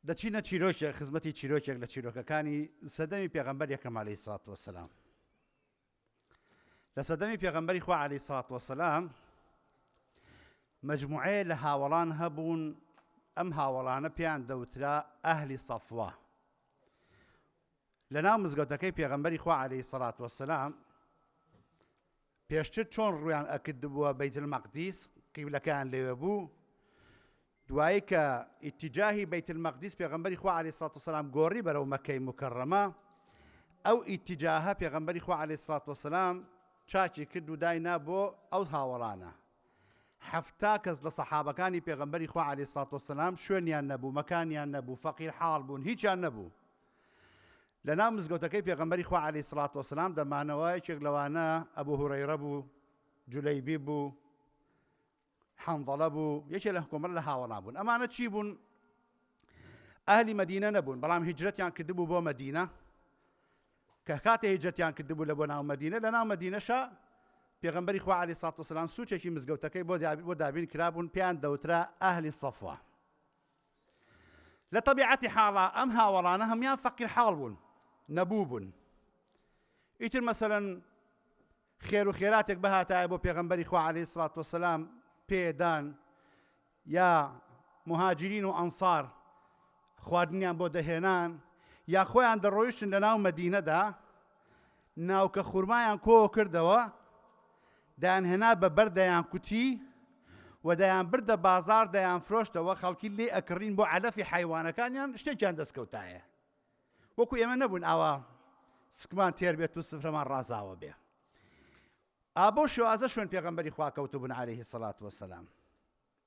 دەچینە چیرۆکێک خزمەتی چیرۆکێک لە چیرۆکەکانی سەدەمی پێغەمبەر یەکەم عەلەیهی سڵات وەسەلام لە سەدەمی پێغەمبەری خوا عەلەیهی سڵات وەسەلام مجموعەیە لە هاوەڵان هەبوون ئەم هاوەڵانە پێیان دەوترا ئەهلی سەفوا لە ناو مزگەوتەکەی پێغەمبەری خوا عەلەیهی سڵات وەسەلام پێشتر چۆن ڕوویان ئەکردبووە بەیت المقدیس قیبلەکەیان لەوێ بوو دوایی کە ئیتیجاهی بەیت المقدیس پێغمبەری خوا علی سات وسلام گۆڕی بەرەو مەکەی مکرڕەمە ئەو ئیتیجاهە پێغمبەری خوا علی سات وسلام چاچی کرد و داینا بۆ ئەو هاوەڵانە حەفتا کەس لە سەحابەکانی پێغمبەری خوا علی سات وسلام شوێنیان نەبوو مەکانیان نەبوو فەقیر حاڵ بوون هیچیان نەبوو لە ناو مزگەوتەکەی پێغەمبەری خوا علیە سڵات وسلام دەمانەوە یەکێک لەوانە ئەبو هورەیرە بوو جولەیبی بوو حەنظەڵە بوو یەکێ لە حکومەر لە هاوەڵا بوون ئەمانە چی بوون ئەهلی مدینە نەبوون بەڵام هیجرەتیان کردبوو بۆ مدینە کە کاتێ هیجرەتیان کردبوو لە بۆ ناو مدینە لە ناو مدینەشە پێغمبەری خوا علی سات وسلام سوچێکی مزگەوتەکەی بۆ بۆ دابین کرابوون پێیان دەوترا ئەهلی سەفوە لە تەبیعەتی حاڵا ئەم هاوەڵانە هەموان فەقیر حاڵ بوون نەبوو بوون ئیتر مەسەلەن خێرو خێراتێک بهاتایە بۆ پێغەمبەری خوا عەلەیهی سڵات وەسەلام پێدان یا مهاجرین و ئەنسار خواردنیان بۆ دەهێنان یا خۆیان دەڕۆیشتن لە ناو مەدینەدا ناوکە خورمایان کۆ کردەوە دەیانهێنا بە بەرد دەیانکوتی و دەیانبردە بازاڕ دەیانفرۆشتەوە خەڵکی لێ ئەکڕین بۆ عەلەفی حەیوانەکانیان شتێکیان دەستکەوتایە وەکو ئێمە نەبوون ئاوا سکمان تێر بێت و سفرەمان ڕازاوە بێ ئابۆ شێوازە شوێن پێغەمبەری خواکەوتبوون عليهەیهی سەلات وەسەلام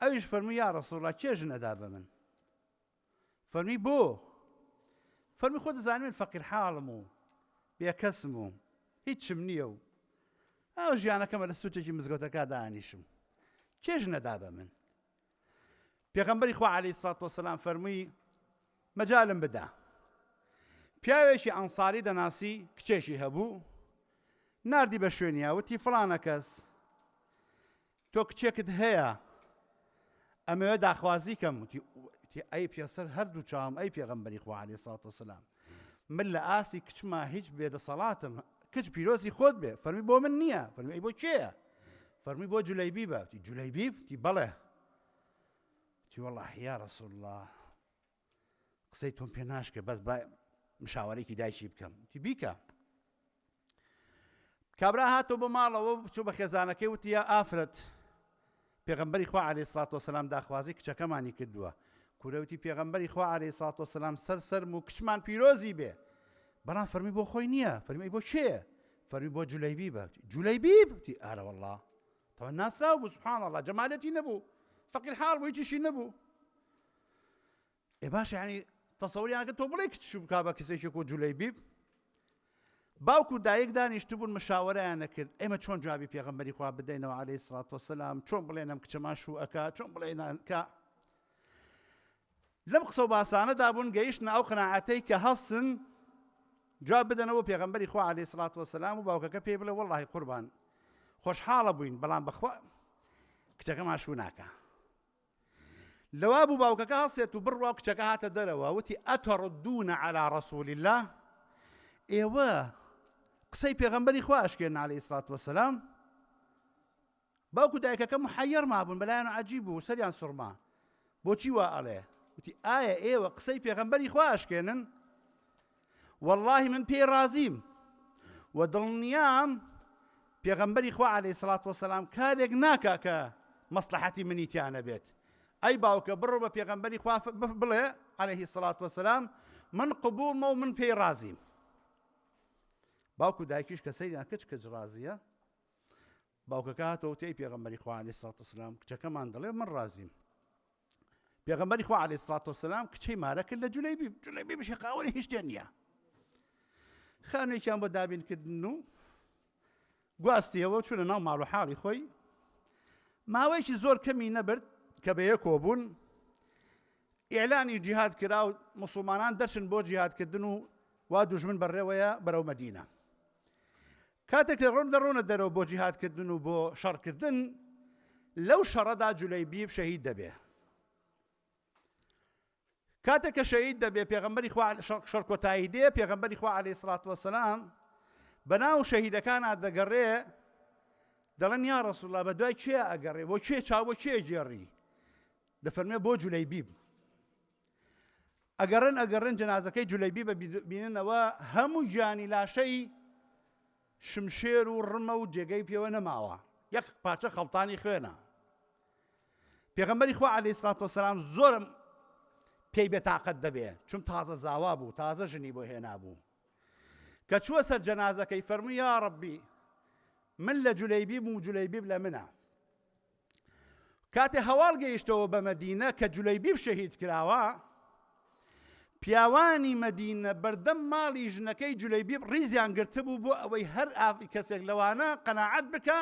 ئەویش فەرمووی یا ڕسوڵ لە کێ ژن ئەدا بە من فەرمی بۆ فەرمی خۆ دەزانین من فەقیر حاڵم و بێکەسم و هیچم نییە و ئەو ژیانەکەمە لە سوچێکی مزگەوتەکە دانیشم کێژ نەدا بە من پێغەمبەری خوا علی سڵات وسلام فەرمووی مەجالم بدا پیاوێکی ئەنساری دەناسی کچێکی هەبوو نردی بە شوێنیا وتی فلانە کەس تۆ کچێکت هەیە؟ ئەمەوێ داخوازی کەم وتی ئەی پێسەر هەردوو چاوم ئەی پێغمبەری خوا عەلەیهی سڵات وسلام من لە ئاستی کچما هیچ بێدەسەڵاتم کچ پیرۆزی خۆت بێ فەرمی بۆ من نییە فەرمی بۆ کێیە فەرمی بۆ جولەیبی بە جولەیبی تی بەڵێ تی وەڵاهی یا رسول الله قسەی تۆم پێ ناشکێ بەس با مشاوەرێکی دایکی بکەم تی بیکە کابرا هاتۆ بۆ ماڵەوە بچوو بە خێزانەکەی وتیە ئافرەت پێغمبەری خوا عليه سلات وسلام داخوازی کچەکەمانی کردووە کورەوتی پێغمبەری خوا عليه سلات وسلام سەر سەرم و کچمان پیرۆزی بێ بەڵام فەرمی بۆ خۆی نییە فەرمی بۆ کێ فەرمی بۆ جولەیبی بە جولەیبی بتی ئارە والله تەوە ناسراو بوو سبحان الله جەمالەتی نەبوو فەقیر حاڵ بووی چیشی نەبوو ئێ باش یعنی تەسەوریانکە تۆ بڵێ کچ بک بە کەسێکێک و جولەی بیب باوکو دایک دانیشتبوون مشاوەرەیان نەکرد ئێمە چۆن جوابی پێغمبەری خوا بدەینەوە عليه سرات وسلام چۆن بڵێنم کچەمان شو ئەک چۆن بڵێنانکە لەم قسە و باسانەدا بوون گەیشتن ئەو قەنەعاتەی کە هەستن جواب بدەنەوە پێغمبەری خوا عليه سرات وسلام و باوکەکە پێی بڵێ وڵی قوربان خۆشحاڵە بووین بەڵام بەخوا کچەکەمان شو ناکە لەوا بوو باوکەکە هەڵسێت و بڕوا و کچەکە هاتە دەرەوە وتی ئەتەڕدون عەلا ڕەسول الله ئێوە قسەی پێغەمبەری خوا ئەشکێن عەلەیهی سڵات وەسەلام باوکو دایکەکە محەیەر مابوون بەلایەن عجیب بوو سەریان سوڕما بۆچی وا ئەڵێ وتی ئایا ئێوە قسەی پێغەمبەری خوا ئەشکێنن وەڵڵاهی من پێی ڕازیم و دڵنیام پێغەمبەری خوا عەلەیهی سڵات وەسەلام کارێک ناکا کە مەسلحەتی منی تیا نەبێت ئەی باوکە بڕۆ بە پێغەمبەری خوا بڵێ عەلەیهی سڵات وەسەلام من قبوڵمە و من پێی ڕازیم باوکو دایکیش کە سەیریان کچ کچ ڕازیە باوکەکە هاتەوە تێی پێغەمبەری خوا عەلەیهی سڵات وسلام کچەکەمان دەڵێ من ڕازیم پێغەمبەری خوا عەلەیهی سڵات وسلام کچەی مارە کرد لە جولەیبی جولەیبی بشێ قاوەری هیچ تێ نییە خانوێکیان بۆ دابینکردن و گواستیەوە چونە ناو ماڵ و حاڵی خۆی ماوەیەکی زۆر کەمی نەبرد کە بەیە کۆبوون ئێلانی جیهاد کرا و مسلمانان دەچن بۆ جیهادکردن و وا دوژمن بەڕێوەیە بەرەو مەدینە کاتێک لە ڕۆم دەڕۆنە دەرەوە بۆ جیهاد کردن و بۆ شەڕ کردن لەو شەڕەدا جولەیبیب شەهید دەبێ کاتێک کە شەهید دەبێ پێغمبەری خوا شەڕ کۆتایی دێ پێغمبەری خوا علی سڵات وسلام بە ناو شەهیدەکان دەگەڕێ دەڵێن یا ڕسوڵا بە دوای کێ ئەگەڕێ بۆ کێ چاوە کێ گێڕی دەفەرمێ بۆ جولەیبیب ئەگەڕێن ئەگەڕێن جەنازەکەی جولەیبی بە بیننەوە هەموو گیانی لاشەی شمشێر و ڕمە و جێگەی پێوە نەماوە یەک پارچە خەڵتانی خوێنە پێغەمبەری خوا علی سلات وسلام زۆرم پێی بێتاقەت دەبێ چون تازە زاوا بوو تازە ژنی بۆ هێنا بوو کە چووە سەر جەنازەکەی فەرموو یا ڕبی من لە جولەیبی بوو جولەیبیب لە منە کاتێ هەواڵ گەیشتەوە بە مەدینە کە جولەیبیب شەهید کراوە، پیاوانی مەدینە بەردەم ماڵی ژنەکەی جولەیبیب ڕیزیان گرتبوو بۆ ئەوەی هەر کەسێک لەوانە قەناعەت بکا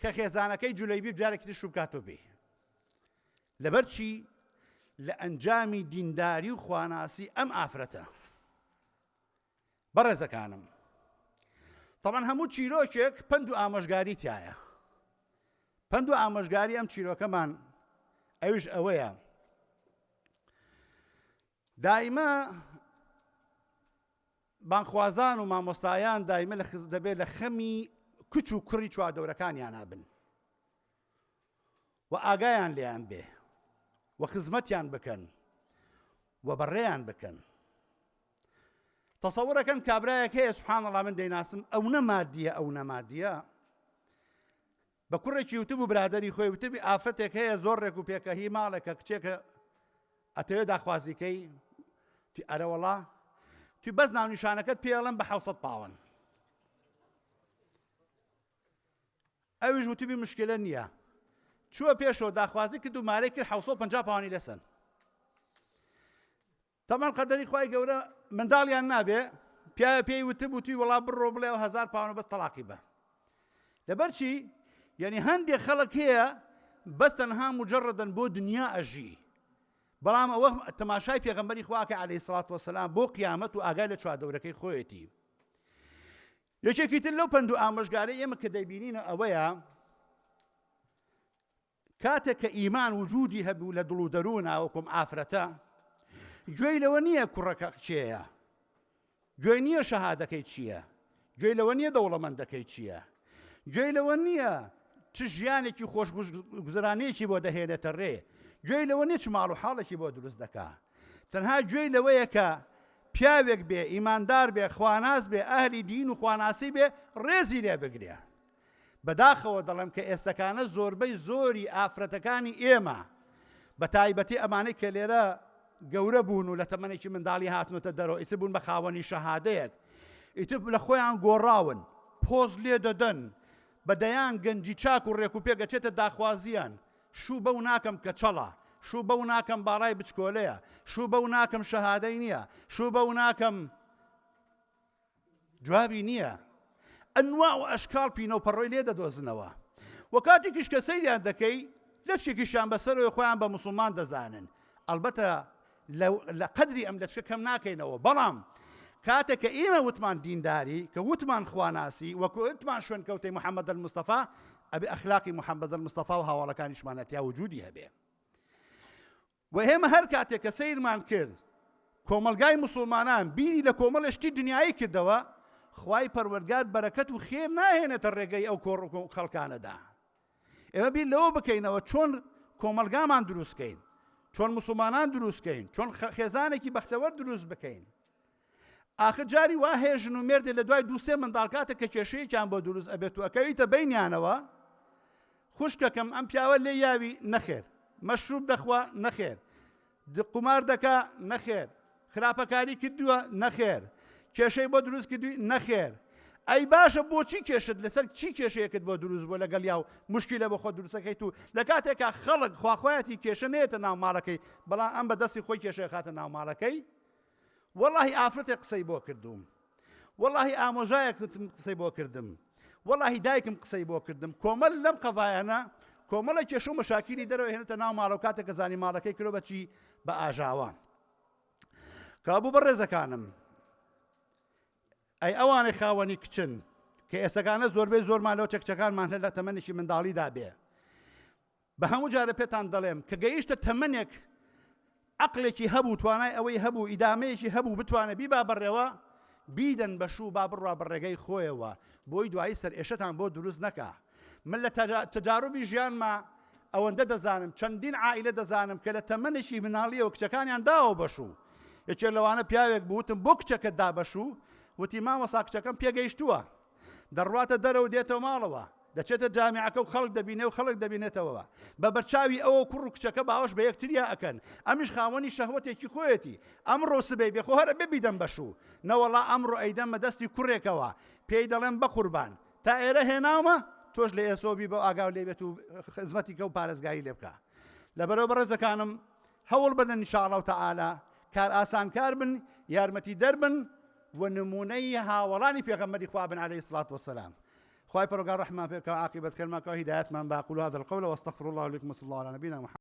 کە خێزانەکەی جولەیبیب جارێکی تر شووبکاتەوە بێ. لەبەر چی؟ لە ئەنجامی دینداری و خواناسی ئەم ئافرەتە. بەڕێزەکانم تەبەن هەموو چیرۆکێک پند و ئامۆژگاری تایە پند و ئامۆژگاری ئەم چیرۆکەمان ئەوش ئەوەیە دایمە بانخوازان و مامۆستایان دایمە لە خز دەبێت لە خەمی کچ و کوڕی چواردەورەکانیان نابن و ئاگایان لێیان بێ و خزمەتیان بکەن و بەڕێیان بکەن تەسەورەکەن کابراایەک هەیە سبحان الله من دەیناسم ئەو نەمادیە ئەو نەمادیە بە کوڕێکی وتب و برادری خۆی وتبی ئافرەتێک هەیە زۆر ڕێک و پێکە هی ماڵێکە کچێکە ئەتەوێ داخوازیکەی تی ئەرەوەڵا تی بەس ناونیشانەکەت پێڵم بە حوسەت پاوەن ئەویش وتبی مشکلە نییە چووە پێشەوە داخوازی کرد و مارەی کرد 650 پاوانی لەسەن تەمان قەدەری خی گەورە منداڵیان نابێ پیاە پێی وتب و توی وڵا بڕۆ بڵێ و هزار پاوانە بەس تەلاقی بە لەبەر چی یعنی هەندێک خەڵک هەیە بەس تەنها مجرڕدن بۆ دنیا ئەژی بەڵام ئەوە تەماشای پێغمبەری خواکە عليه سڵات وسلام بۆ قیامەت و ئاگای لە چواردەورەکەی خۆیەتی یەکێکی تر لەو پەند و ئامۆژگارەی ئێمە کە دەیبینینە ئەوەیە کاتێک کە ئیمان وجودی هەبوو لە دڵ و دەرووناوەکم ئافرەتە گوێی لەوە نییە کوڕەکە چێە گوێ نییە شەهادەکەی چییە گوێی لەوە نییە دەوڵەمەندەکەی چییە گوێی لەوە نییە چ ژیانێکی خۆش گوزرانەیەکی بۆ دەهێنێتە ڕێ گوێی لەوە نیە چ ماڵ و حاڵێکی بۆ دروست دەکا تەنها گوێی لەوەیە کە پیاوێک بێ ئیماندار بێ خواناس بێ ئەهلی دین و خواناسی بێ ڕێزی لێ بگرێ. بەداخەوە دەڵێم کە ئێستەکانە زۆربەی زۆری ئافرەتەکانی ئێمە بە تایبەتی ئەمانەی کە لێرە گەورە بوون و لە تەمەێکی منداڵی هاتنۆتە دەرەوە ئیسە بوون بە خاوەنی شەهادەیەک ئیتر لە خۆیان گۆڕاون پۆز لێ دەدەن بە دەیان گەنجی چاک و ڕێک و پێگەچێتە داخوازیان شوو بەو ناکەم کەچەڵە، شوو بەو ناکەم باڵای بچکۆلەیە، شوو بەو ناکەم شەهادەی نییە، شوو بەو ناکەم جوابی نییە. ئەنواع و ئەشکاڵ پینە و پەڕۆی لێ دەدۆزنەوە و کاتێکیش کە سەیریان دەکەی لەچکێکیشیان بەسەرەوەی خۆیان بە موسڵمان دەزانن، ئەڵبەتە لە قەدری ئەم لەچکە کەم ناکەینەوە، بەڵام کاتێک کە ئیمە وتمان دینداری، کە وتمان خواناسی، وە کوتمان شوێنکەوتەی محمد المصطفی، ئەبێ ئەخلاقی محمد المصطفی و هاواڵەکانیشمان لەتیا وجودی هەبێ. وە ئێمە هەر کاتێک کە سەیرمان کرد کۆمەڵگای مسوڵمانان بیری لە کۆمەڵێ شتی دنیایی کردەوە، خوای پەروەردگار بەرەکەت و خێر ناهێنێتە ڕێگەی ئەو کۆڕ و خەڵکانەدا. ئێمە بیر لەوە بکەینەوە چۆن کۆمەلگامان دروستکەین چۆن مسلمانان دروستکەین چۆن خێزانێکی بەختەوەر دروست بکەین ئاخر جاری وا هەیە ژن و مێردێ لە دوای دووسێ منداڵکاتە کە کێشەیەکیان بۆ دروست ئەبێت و ئەکەویتە بینیانەوە خوشکەکەم ئەم پیاوە لێ یاوی نەخێر مەشروب دەخوا نەخێر د قومار دەکا؟ نەخێر. خراپەکاری کردووە؟ نەخێر. کێشەی بۆ دروست کردووی؟ نەخێر. ئەی باشە بۆچی کێشت لەسەر چی کێشەیەکت بۆ دروست بۆ لەگەڵ یاو مشکیلە بۆ خۆ دروستەکەیت و لە کاتێکا خەڵک خواخوایەتی کێشە نێتە ناو ماڵەکەی بەڵام ئەم بە دەستی خۆی کێشەیە خاتە ناو ماڵەکەی وەڵاهی ئافرەتێک قسەی بۆ کردووم وەڵاهی ئامۆژایەکتم قسەی بۆ کردم وەڵاهی دایکم قسەی بۆ کردم کۆمەل لەم قەڤایەنە کۆمەڵە کێشە و مەشاکیلی دەرەوە هێنێتە ناو ماڵە و کاتێک کە زانی ماڵەکەی کرۆ بەچی بە ئاژاوە کابوو بە ڕێزەکانم ئەی ئەوانەی خاوەنی کچن کە ئێستەکانە زۆربەی زۆرمان لەو چەکچەکانمان هەر لە تەمەنێکی منداڵیدا بێ بە هەموو جارە پێتان دەڵێم کە گەیشتە تەمەنێک عەقڵێکی هەبوو توانای ئەوەی هەبوو ئیدامەیەکی هەبوو بتوانێ بیبا بەڕێوە بیدەن بە شوو با بڕوا بە ڕێگەی خۆیەوە بۆی دوایی سەر ئێشەتان بۆ دروست نەکا من لە تەجاروبی ژیانما ئەوەندە دەزانم چەندین عائلە دەزانم کە لە تەمەنێکی مناڵیەوە کچەکانیان داوە بەشوو یەکێ لەوانە پیاوێک بوتم بۆ کچەکە دابەشوو وتی مامەسا کچەکەم پێگەیشتووە دەڕواتە دەرەوە دێتەوە ماڵەوە، دەچێتە جامیعەکە و خەڵک دەبینێ و خەڵک دەبینێتەوە بە بەرچاوی ئەوە کوڕ و کچەکە باوەش بە یەکتریا ئەکەن، ئەمیش خاوەنی شەهوەتێکی خۆیەتی، ئەمڕۆ و سبەی بێ خۆ هەر ئەبێ بیدەم بە شوو، نەوەڵا ئەمڕۆ ئەیدەمە دەستی کوڕێکەوە، پێی دەڵێم بەقوربان تا ئێرە هێناومە تۆش لە ئێسەوە بی بەو ئاگاو لێ بێت و خزمەتی کە و پارێزگاری لێ بکا. لەبەرەوە بەڕێزەکانم هەوڵ بدەن ان شاء اللە تعالی کارئاسانکار بن، یارمەتیدەر بن، و نموونەی هاوەڵانی پێغەمبەری خوا بن علیە الصلوة والسلام خوای پەروەردگار ڕەحممان پێ بکا و عاقیبەت خێرمان کەوە هیدایەتمان با اقول هذا القول واستغفر الله لي ولكم وصلی الله علی نبینا محمد